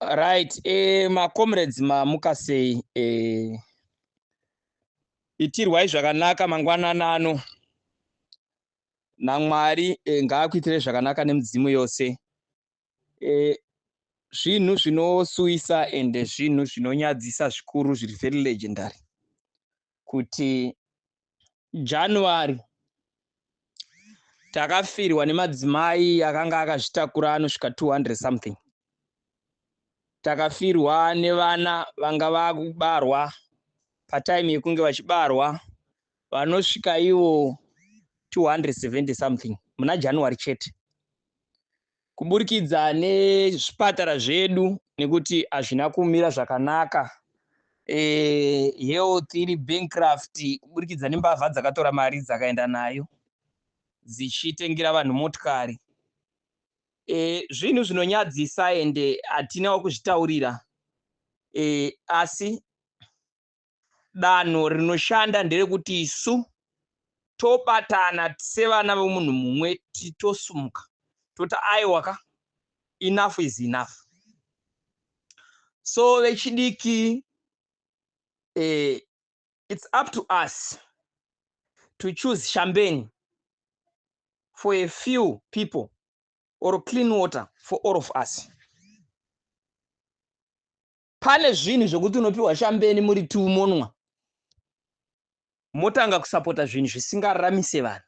right eh, macomrades mamuka sei eh, itirwai zvakanaka mangwanana ano namwari eh, ngaakuitirei zvakanaka nemidzimu yose eh, zvinhu zvinosuwisa ende zvinhu zvinonyadzisa zvikuru zviri very legendary kuti January takafirwa nemadzimai akanga akazvitakura anosvika 200 something takafirwa nevana vanga vakubarwa patime yekunge vachibarwa vanosvika ivo 270 something muna january chete kuburikidza nezvipatara zvedu nekuti hazvina kumira zvakanaka e, health iri bankrupt kuburikidza nembavha dzakatora mari dzakaenda nayo dzichitengera vanhu motikari e, zvinhu zvinonyadzisa ende hatinawo kuzvitaurira e, asi danho rinoshanda nderekuti isu tobatana sevana vemunhu mumwe titosumuka toti aiwa ka enough is enough so vechidiki eh, it's up to us to choose shambeni for a few people or clean water for all of us pane zvinhu zvekuti unopiwa shambeni muri two monwa motanga kusapota zvinhu zvisingaramise vanhu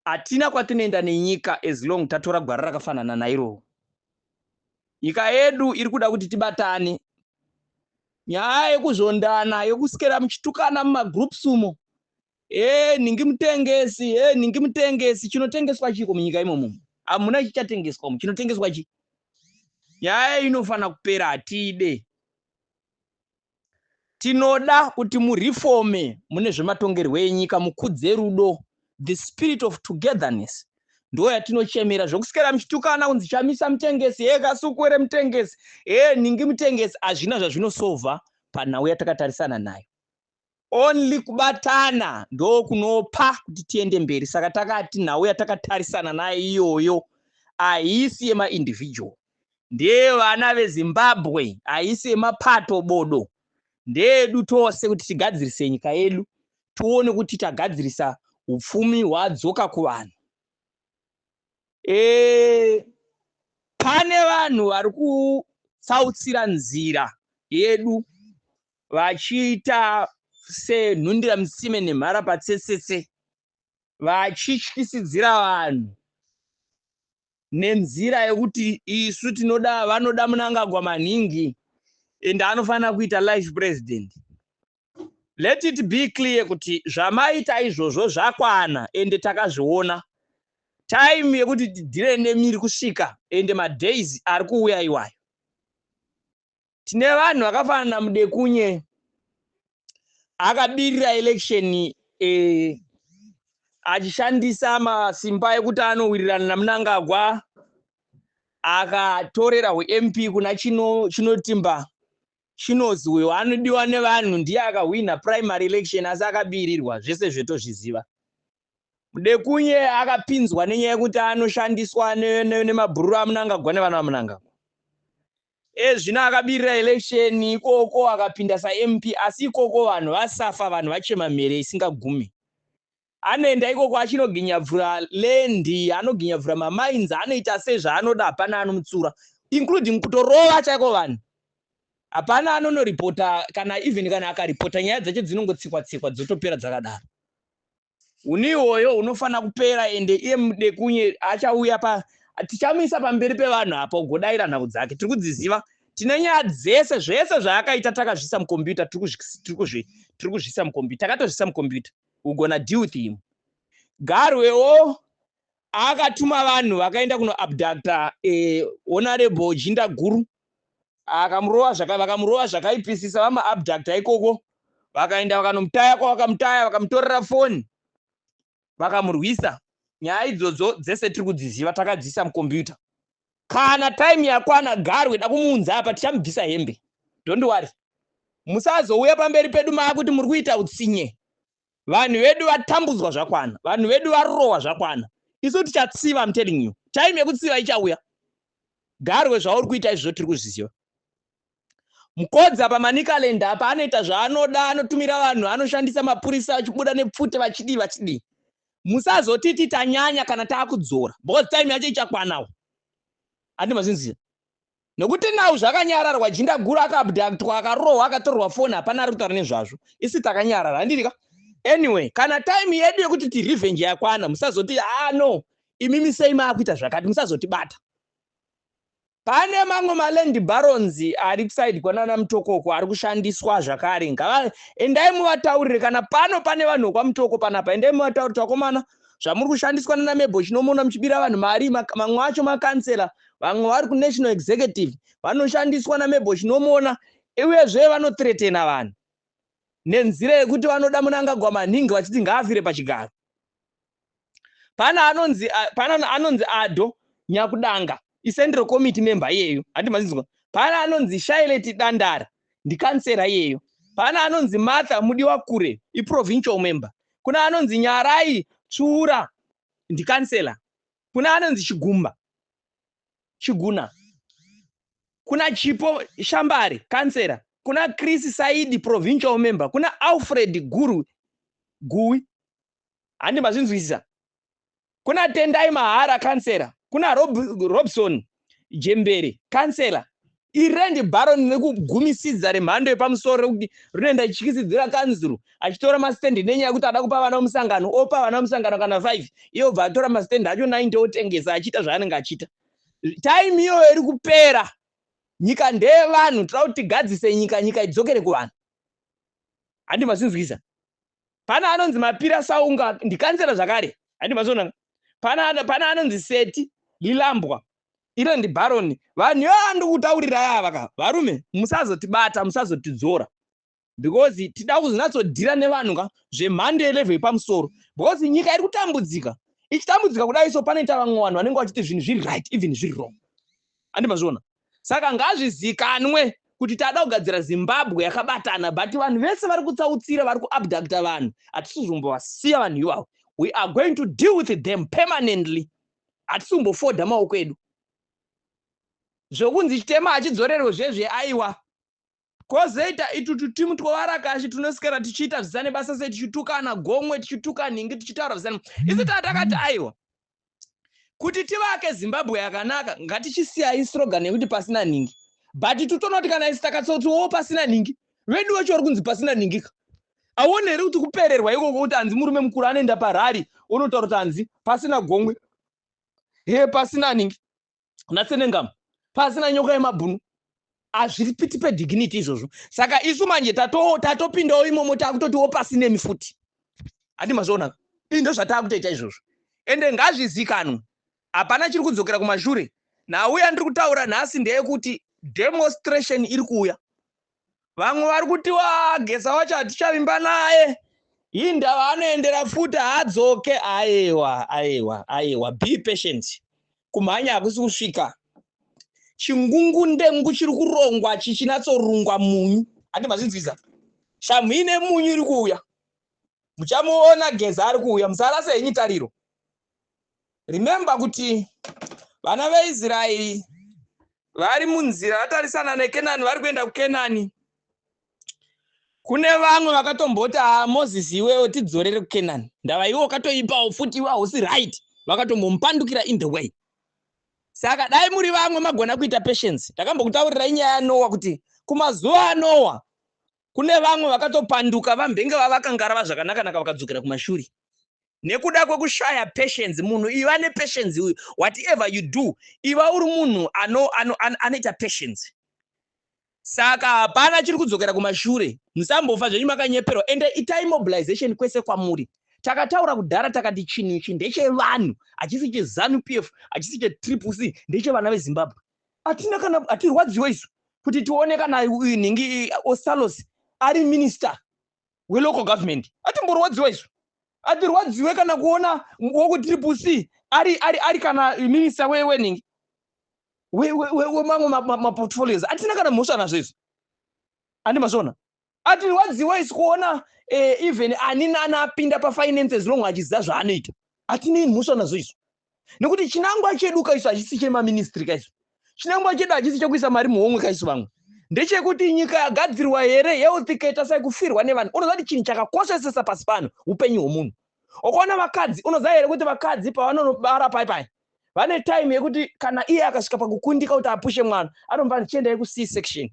hatina kwatinoenda nenyika as long tatora gwara rakafanana nairowo nyika yedu iri kuda kuti tibatane nyaya yekuzvondana yekusikera muchitukana mumagroups umo Eh, ningi mutengesi, eh, ningi mutengesi. Chinotengeswa chiko munyika imomo. Hamuna chichatengeswa mu. Chinotengeswa chi. Nyaya inofana kupera hatide. Tinoda kuti mu reforme mune zvematongerwo enyika mukudze rudo, the spirit of togetherness. Ndo yatinochemera zvokusikera muchitukana kunzi chamisa mutengesi, eh, kasukuwere mutengesi, eh, ningi mutengesi. Hazvina zvazvinosova panhau yatakatarisana nayo. only kubatana ndokunopa kuti tiende mberi saka takati nhau yatakatarisana nayo iyoyo haisi yemaindividual ndeyevana vezimbabwe haisi yemapato bodo ndeyedu tose kuti tigadzirise nyika yedu tione kuti tagadzirisa upfumi hwadzoka kuvanhu e, pane vanhu vari kutsautsira nzira yedu vachiita senhundira mutsime nemhara patsetsetse vachityisidzira vanhu nenzira yekuti isu tinoda vanoda munangagwa maningi and anofanira kuita life president let it be clear kuti zvamaita izvozvo zvakwana ende takazviona time yekuti tidhire nemiri kusvika ende madays ari kuuya iwayo tine vanhu vakafanana namudekunye akabirira election eh, achishandisa masimba ekuti anowirirana namunangagwa akatorera hwemp kuna chino chinotimba chinozi uyo anodiwa nevanhu ndiye akahwina primary election asi akabirirwa zvese zvetozviziva mudekunye akapinzwa nenyaya yekuti anoshandiswa nemabhururu ne, ne amunangagwa nevanhu vamunangagwa Ezvino akabirira election ikoko akapinda sa MP asi ikoko vanhu vasafa vanhu vachema mhere isingagume. Anoenda ikoko achinoginyabvura land, anoginyabvura ma mines, anoita se zvaanoda hapana anomutsura including kutorova chaiko vanhu. Hapana anono reporter kana even kana aka reporter nyaya dzacho dzinongotsikwa tsikwa dzotopera dzakadaro. huni iwoyo unofanira kupera ende iye mudekunye achauya pa tichamuisa pamberi pevanhu apa ugodaira nhau dzake tiri kudziziva tine nyaya dzese zvese zvaakaita takazvisa mukombiyuta tiri kuzvisa mukombiyuta takatozvisa mukombiyuta ugona deal with him garwewo akatuma vanhu vakaenda kunoabducta eh, honorable jinda guru akamurova zvaka vakamurova zvakaipisisa vamaabducta ikoko vakaenda vakanomutaya kwavakamutaya vakamutorera foni vakamurwisa nyaya idzodzo dzese tiri kudziziva takadziisa mukombiyuta kana time yakwana garwe da kumuunza apa tichamubvisa hembe don't worry musazouya pamberi pedu maakuti muri kuita utsinye vanhu vedu vatambudzwa zvakwana vanhu vedu varowa zvakwana isu tichatsiva im telling you time yekutsiva ichauya garwe zvauri kuita izvozvo tiri kuzviziva mukodza pamanicaland apa anoita zvaanoda anotumira vanhu anoshandisa mapurisa achibuda nepfute vachidii vachidii musazotiti tanyanya kana taakudzora because time yacho ichakwanawo andimazvinzira Nokuti now zvakanyararwa jinda guru akaabductwa akarohwa akatorerwa phone hapana ari kutaura nezvazvo. Isi takanyarara handiri ka? Anyway, kana time yedu yekuti ti revenge yakwana musazoti ah no imimi sei maakuita zvakati musazotibata. Pane mamwe maland barons ari kuside kwanana Mutokoko ari kushandiswa zvakare ngava endai muvataurire kana pano pane vanhu vekwa Mutoko panapa endai muvataurire vakomana zvamuri kushandiswa nana Mebo chinomono muchibira vanhu mari mamwe acho makansela vamwe vari kunational executive vanoshandiswa namebo chinomona uyezve vanotretena vanhu nenzira yekuti vanoda munangagwa manhingi vachiti ngaafire pachigaro pane anonzi pane anonzi ado nyakudanga icentral committee member iyeyo handi mazinzwa pane anonzi shaileti dandara ndikansera iyeyo pane anonzi martha mudiwa kure iprovincial member kuna anonzi nyarai tsvuura ndikansela kuna anonzi chigumba chiguna kuna chipo shambari kansera kuna chris saidi provincial member kuna alfred guru guwi handi mazvinzwisisa kuna tendai mahara kansera kuna Rob, robson jembere kansela irendi baron nekugumisidza remhando yepamusoro rekuti rinoenda richityisidzira kanzuru achitora masitendi nenyaya yekuti ada kupa vana vemusangano opa vana vemusangano kana 5 iye obva atora masitendi acho 90 otengesa achiita zvaanenge achiita time iyoyo iri kupera nyika ndeyevanhu tira kuti tigadzise nyika nyika idzokere kuvanhu handi masinzwisa pana anonzi mapira saunga ndikanzera zvakare handi mazonanga pana pana anonzi seti lilambwa iro ndi baroni vanhu yo andikutaurira yava ka varume musazotibata musazotidzora because tida kuzonatsodhira nevanhu ka zvemhando yelevel yepamusoro because nyika iri kutambudzika ichitambudzika kudai so panoita vamwe vanhu vanenge vachiti zvinhu zviri right even zviri wrong andimazviona Saka ngazvizikanwe kuti tada kugadzira Zimbabwe yakabatana but vanhu vese vari kutsautsira vari kuabductor vanhu hatisi kuzombovasiya vanhu ivavo we are going to deal with them permanently hatisi kumbofoda maoko edu zvokunzi chitema hachidzorerwe zvezve aiwa Kozoita itu tutimu twovarakashi tunoswera tichiita zvisane basa sei tichitukana gomwe tichituka nhingi tichitaura zvisane isu taa takati aiwa kuti tivake zimbabwe yakanaka ngatichisiyai srogan yekuti pasina nhingi but itu tonoti kana isi takatsoti wo pasina nhingi vedu vacho vari kunzi pasina nhingi ka aone here kuti kupererwa ikoko kuti hanzi murume mukuru anoenda parari onotaura kuti hanzi pasina gomwe he pasina nhingi natsenengamu pasi na nyoka yemabhunu hazvipiti pedignity izvozvo saka isu manje tatopindawo tato imomo takutotiwo pasi nemi futi handi mazviona indo zvatakutoita izvozvo ende ngazvizikanwe hapana chiri kudzokera kumashure nhau yandiri kutaura nhasi ndeyekuti demonstration iri kuuya vamwe vari kuti wa gesa wacho hatichavimba naye hii ndava anoendera futi haadzoke aiwa aiwa aiwa be patient kumhanya hakusi kusvika chingungu ndengu chiri kurongwa chichinatsorungwa munyu hati mazvinzwiza shamhu ine munyu iri kuuya muchamuona geza ari kuuya musarase henyu tariro remember kuti vana veisraeri vari munzira vatarisana nekenani vari kuenda kukenani kune vamwe vakatomboti a ah, moses iwewo tidzorere kukenani ndava iwe wakatoipawo futi iwe hausi right vakatombomupandukira in the way saka dai muri vamwe magona kuita patience ndakambokutaurirai nyaya yanowa kuti kumazuva anowa kune vamwe vakatopanduka vambenge vavakangarava zvakanakanaka vakadzokera kumashuri nekuda kwekushaya patience munhu iva nepatience uyu whatever you do iva uri munhu anoita ano, ano, ano patience saka hapana chiri kudzokera kumashure musambofa zvenyu makanyeperwa ende itai mobilization kwese kwamuri takataura kudhara takati chinhu ichi ndechevanhu hachisi chezanu p f hachisi chetriple c ndechevana vezimbabwe hatina kana hatirwadziwe isu kuti tione kana uyu nhingi osalos ari minister welocal government atimborwadziwa isu atirwadziwe kana kuona wekutriple c ari ari ari kana minister weweningi wemamwe maportfolios atina kana mhosva nazvo izvo andi mazviona atirwadziwa isu kuona eh, even ani nani apinda pafinances long achiziva zvaanoita atinei mhosva nazvo izvo nekuti chinangwa chedu kaisu hachisi chemaministry kaisu chinangwa chedu hachisi chekuisa mari muhomwe kaisu vamwe ndechekuti nyika yagadzirwa here health ikaita sai kufirwa nevanhu unoziva kuti chinhu chakakoshesesa pasi pano upenyu hwomunhu ukaona vakadzi unoziva here kuti vakadzi pavanonobara pai pai vane time yekuti kana iye akasvika pakukundika kuti apushe mwana anombaa chiendai kuc section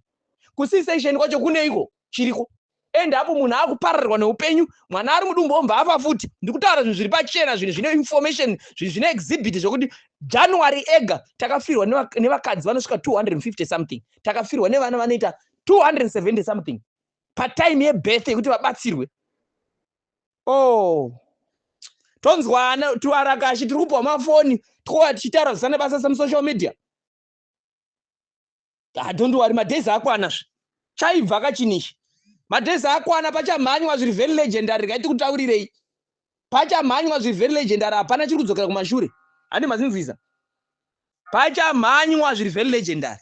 kuc section kwacho kuneiko chiriko and apo munhu akupararwa neupenyu mwana ari mudumbu omva afa futi ndikutaura zvinhu zviri pachena zvinhu zvine information zvinhu zvine exhibit zvekuti january ega takafirwa nevakadzi vanosvika 250 something takafirwa nevana vanoita 270 something patime yebirth yekuti vabatsirwe o oh. tonzwana tivarakashi tiri kupiwa mafoni tikuwa tichitaura zvisana basa semusocial media don't worry madays akwana zve chaibva kachinichi madays akwana pachamhanywa zviri very legendary rega tikutaurirei pachamhanywa zviri very legendary hapana chiri kudzokera kumashure handi mazinzwiza pachamhanywa zviri very legendary